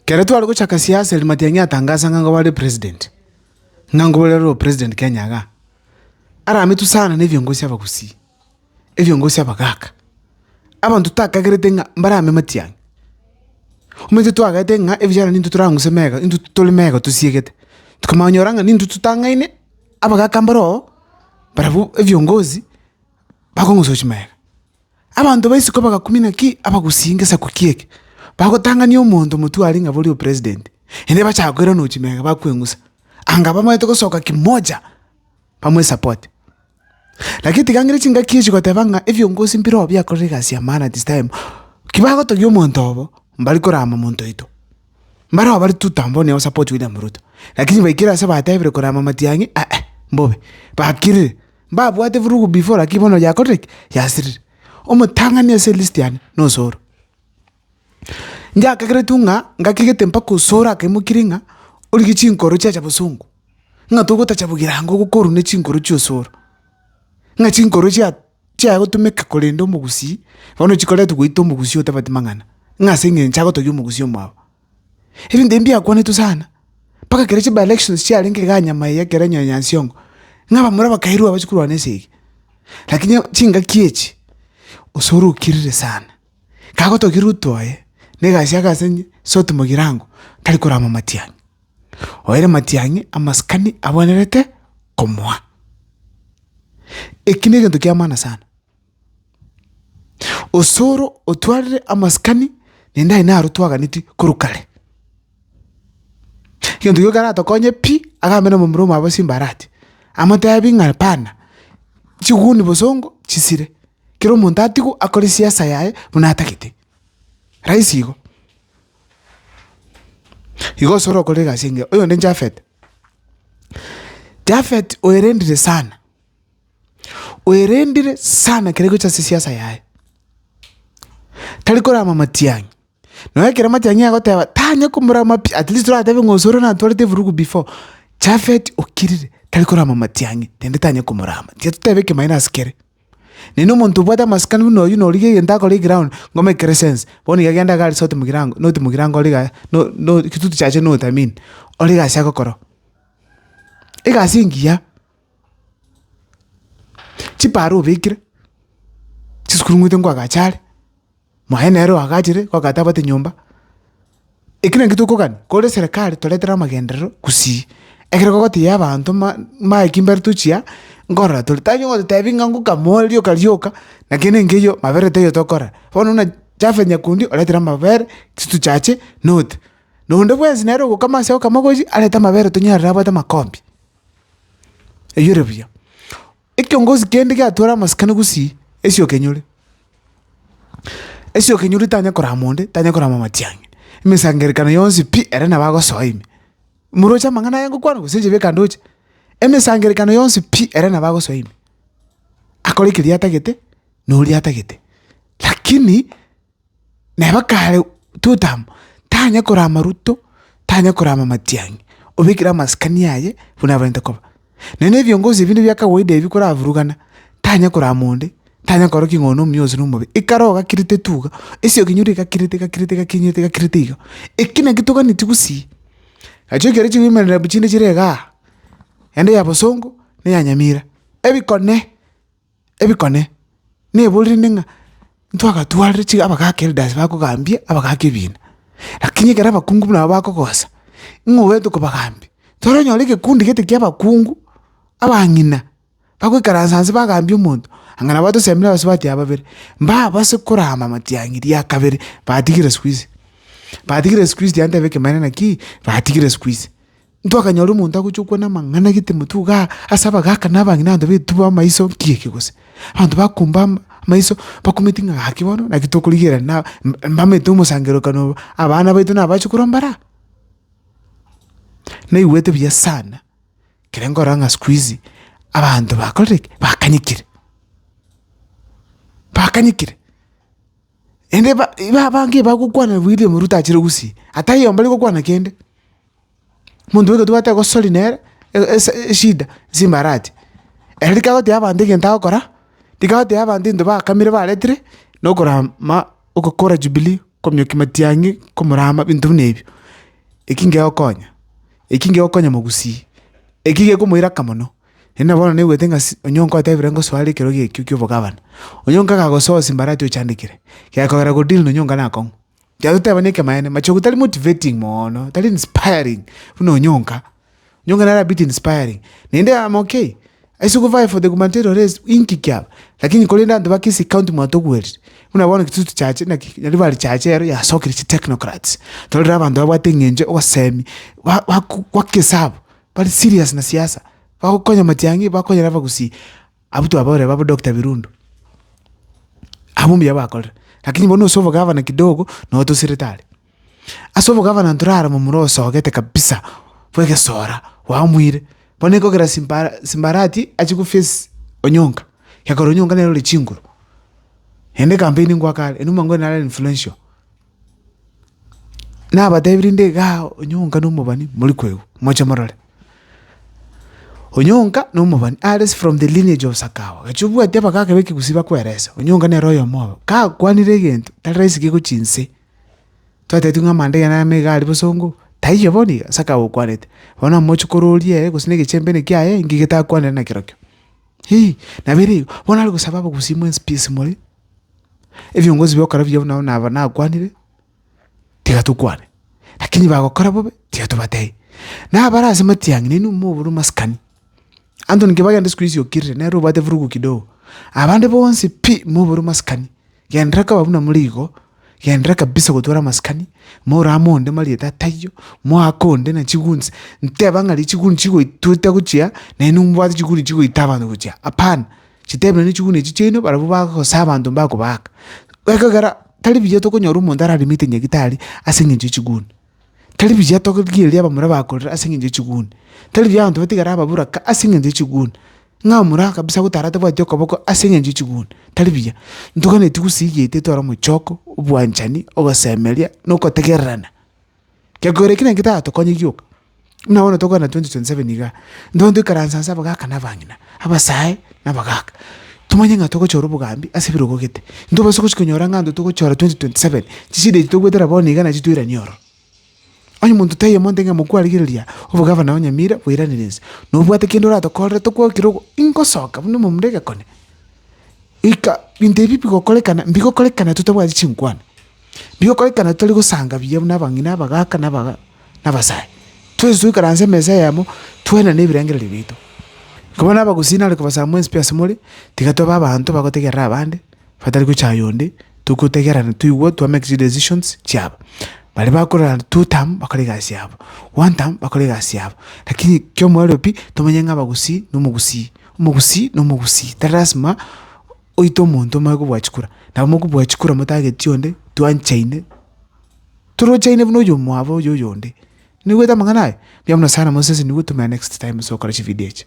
Ekero tware gochaka siasa eria Matiang'i atangasa ng'a nigo bare president, ng'a nigo bare ore president Kenya igaa. Aramitwe sana ne ebiongozi aba gusii, ebiongozi aba gaka. abanto takagerete ng'a mbarame matiang'a. Omanyete twagaete ng'a ebichara nintwe torang'use mega, intwe tore mega tosiegete, tokamanya konyora ng'a nintwe totang'aine abagaka mbaroo, barabwo ebiongozi, bakong'usochi mega. Abanto ba isiko bagakumina ki? Abagusii ngesaku kie eke, bagotang'ani omonto omotwe aria ng'a borio president, ende bachaka koiranochi mega bakweng'usa, anga bamanyete gosoka kimoja, bamoesapote. Lakini tiga ngere chingaki echi goteba ng'a ebiongozi mbire oo biakorire egasi ya maana this time, ki bagotogia omonto obo, mbari korama monto oito. Mbare oo bare tutam bono nigo ba support William Ruto, lakini baikire ase batebire korama matiang'i aah, mbobe, bakirire, mbabwate vurugu before lakini bono yakorire ki? Yasirire. Omotang'ani ase elist yane, na Osoro. Ngiakageretu ng'a ngakigete mpaka osore akaimokirie ng'a origie chinkoro chiacha bosongo, ng'a togotacha bogirango gokorwa ne chinkoro chia osoro, ng'a chinkoro chia chiaya gotomeka korenda omogusii, bono chikoretwa goita omogusii otabati mang'ana, ng'a ase eng'encho agotogia omogusii omwabo. Ebinto ebi mbiakwanetwe sana, mpaka kere chi bi-elections chiarenge igaa nyuma eye ekero onye Nyansiongo, ng'a abamura bakairwa abachi korwa na esegi. Lakini chingaki echi, osoro okirire sana. Kagotogira uto aye, negasia ase inye, soti mogirango, tari korama matiang'i. Oere matiang'i amasikani abwenerete komoa. Eki negento kiamana sana. Osoro otwarire amasikani nende aye naro twaganeti korwa kare. Egento ekio keratokonye pi, agambe na momura omoabo simbarati, amotebi ng'a hapana, chiguni bosongo chisire. kera omonto atigwe akore siasa yaye buna atagete, rahisi igo. Igo gose orokore egasi engiya, oyonde Japhet, Japhet oerendire sana, oerendire sana kere gocha ase siasa yaye, tari korama matiang'i. Nonya ekero amachang'ina agoteba tanye komorama pi, at least toratebe ng'a osore natwarete efurugu before, Japhet okirire tari korama amatiang'i naende tanye komorama, tiga totebe ekemanyeto ase kere. Naende omonto obwate amasikani buna oyio norigia egento akore eground ngomekere sense, bono iga genda iga resort mogirango noti mogirango ore igaa no- no- kitutu chiaye notamiin, ore egasi agokora oo. Egasi engiya. Chipara obekire, chisukuru ng'weete nkwagache are, mwaye nere oagachire mpaka atabwate nyomba, ekio nakio tokogania, kore serikali toretere amagenderero gusii, ekero bagotiga abanto ma- maki mbare tochia nkorora tore, tari ogotebi ng'a ngokama ore rioka rioka, naki ere nkeiyo mabere taiyo tokora, bono buna Jafeth Nyakundi oretere amabere chisito chiache note, na onde bwensi nere ogokama ase ogokama gochia arete amabere tonyare abwate amakombi. Eyio ere buya. Ekiongozi kende giatwara amasikani gosii, ase okenyori, ase okenyori tanya korama onde, tanya korama matiang'i, emesangerekano yonsi pi ere nabo agosoa ime. Moroche amang'ana aya ngokwana gose inche beka ndoche, emesangerekano yonsi pi ere nabo agosoa ime. Akore keria atagete, na oria atagete. Lakini, Nabo kare Tutamu tanya korama ruto, tanya korama matiang'i, obekire amasikani aye buna abarente koba. Na nebiongozi ebinde bia kawaida ebi koravurugana, tanya korama onde, tanya korora ki ng'a one omuya ose nomobe, ekare ogakirite tu iga, ase okinyure egakirite egakirite egakinyete egakirete iga. Eki naki toganeti gusii, nachi ekero chigoimerera bu chinde chire igaa, ende ya bosongo, ne ya nyamira, ebikone. ebikone, neborende ng'a ntwagatwarire chiga abagaaka elders bakogambie abagaaka ebiina. Lakini ekero abakungu buna aba bakogosa, ng'a oete kobagambia, toranyora egekundi gete kia abakungu, abang'ina, bagoikaransa nse bagambia omonto, anga nabo atosemire abasubati aba babere, mbabase korama amatiang'i ria kabere, batigire sikuizi, batigire sikuizi tibantebe ekemanera ki, batigire sikuizi. Ntwakanyora omonto agochia gokwana amang'ana g'etemoto iga ase abagaaka na abang'ina abanto baetube amaiso nki'eke gose. Abanto bakumba amaiso bakumeti ng'a gaki bono naki tokorigereria na mbamete omosangerokano obo, abana baito nabo bache korwa mbaro aa. Naigwete buya sana ekero nkorora ng'a sikuizi abanto bakorire ki? Bakanyekire, bakanyekire naende ba abange bagokwana William Ruto achire gusii, ata aye oyomo mbare gokwana kende. Omonto bweka tobwate egosori nere, e- e- ese- eshida ase embarache. Ere rika agoteba abanto egento agokora, rika agoteba abanto egento bakamire baretire, na okoram ma ogokora jubilee, komiokia matiang'i, komorama ebinto buna ebio. Eki ngegokonya, eki ngegokonya mogusii, eki gekomoiraka mono. Naende nabo bono naigwete ng'a si onye nkotebire ngosoa are ekerogo ekio ki'obogabana, onye nkaga gosoa ase embarache ochandekire, gekogera godeal na onye nkanakong'u. Kiagera totebane ekemanyeene, machogu tari motivating mono, tari inspiring buna Onyonka. Onyonka nere a bit inspiring, naende amo okay, ase govive for the gubernatorial race inki kiaba? Lakini korende abanto ba Kisii county mwatokuerire, buna bono gitutu chichache naki naende bare chichache ero yasokire chitechnocrats, torore abanto babwate eng'encho, obosemi, ba- baku goaka esabu, bari serious na siasa, bagokonya matiang'i, bakonyera abagusii. Abwo twabaorire babo Doctor Birundu, abwo mbuya bakorire, lakini bono ase obogavana kidogo nabo tosirete are. Ase obogavana ntorara momura osogete kabisa bwa egesora bwamuire, bono ekogera simba simbarati achie go face Onyonka, egekora Onyonka nere ore chinguru, naende campaign ngwaka are, enuma ngore nare influential. Nabatebirie inde igaa onyonka na omobani mori koigwa, moche morore. Onyonka na omobani are from the lineage of Sakawa, gaki obwati abagaaka ba ekegusii bakwerese, onyonka nere oyomo obo. Kakwanire egento tari raisi kegwe chinse, twatebeti ng'a amanda iga nero niga aria bosongo, taiyo bono iga Sakawa okwanete. Bono omoche kororia ere gose na egechembene kiaye ng'ige takwanire nakero kio. Hii, nabo ere igo, bono are gosaba abagusii mwensi pi ase more, Ebiongozi bi'okora biya buna nabo nakwanire, tiga tokwane, rakini bagokora bobe, tiga tobatebi. Na abare ase matiang'i nainwe mobore omasikani, anto ninki bagenda siku hizi okirire nere obwate vurugu kidogo, abande bonsi pi mobore omasikani, genderera koba buna more igo. Genderera kabisa gotwara amasikani, morame onde marieta atayio, moake onde na chiguni, nteba ng'a richiguni chigoitwete gochia, naye nombwate chiguni chigoita abanto gochia, hapana, chitebe nonye chiguni echi chiaino barabwo bagosa abanto mbakobaaka. Ekegera tari buya tokonyora omonto ararimete nyagitari ase eng'encho ya chiguni. Tari buya togirigereria abamura bakorera ase eng'encho ye chiguni, tari buya abanto batigare ababoraka ase eng'encho ye chiguni, ng'a omura kabisa gotara atabwati okoboko ase eng'encho ye chiguni, tari buya. Ntogani tigusigie ete etware omochoko, obwanchani, ogosemeria, na ogotegererana. Gekogera ekero naki tatokonye gioka. Buna bono tokogenda 2027 iga, intwe toikaranse ase abagaka na abang'ina, abasae na abagaka, tomanye ng'a togochora obogambi ase ebirogo gete. Intwe bosi gochia konyora ng'a intwe togochora 2027, chishida echi togwetera bono iga nachio toiranie ororo. Onye monto taiyo amonte ng'a mokwarigereria obogavana o Nyamira bweiranire inse, nobwate kende oratokorere tokwokire ogo ingosoka buna omomura egekone. Ika, binto ebi bigokorekana mbigokorekana totabwati chinkwana. Rigokorekana tari gosanga buya buna abang'ina, abagaaka, na abasae. Twensi toikaranse emesa eyemo, twenane ebirengererio biaito. Koba nabagusii nare kobasaba mwensi pi asemore, tiga tobe abanto bagotegerera abande, batari gochaya onde, togotegerana, toigwa, to make decisions chiabo. Baria bakorora two term bakore egasi yabo, one term bakore egasi yabo, lakini kiomorero pi, tomenye ng'a abagusii na omogusii, omogusii na omogusii, tari lasima. oite omonto omoe kobua chikura, nabo mokobua chikura motagetie onde, twanchaine, torochaine buna oywo omwabo oyo oyonde. Noigwete amang'ana aye? Mbuya mono sana Moses nigo otomera next time ase ogokora chividio echi.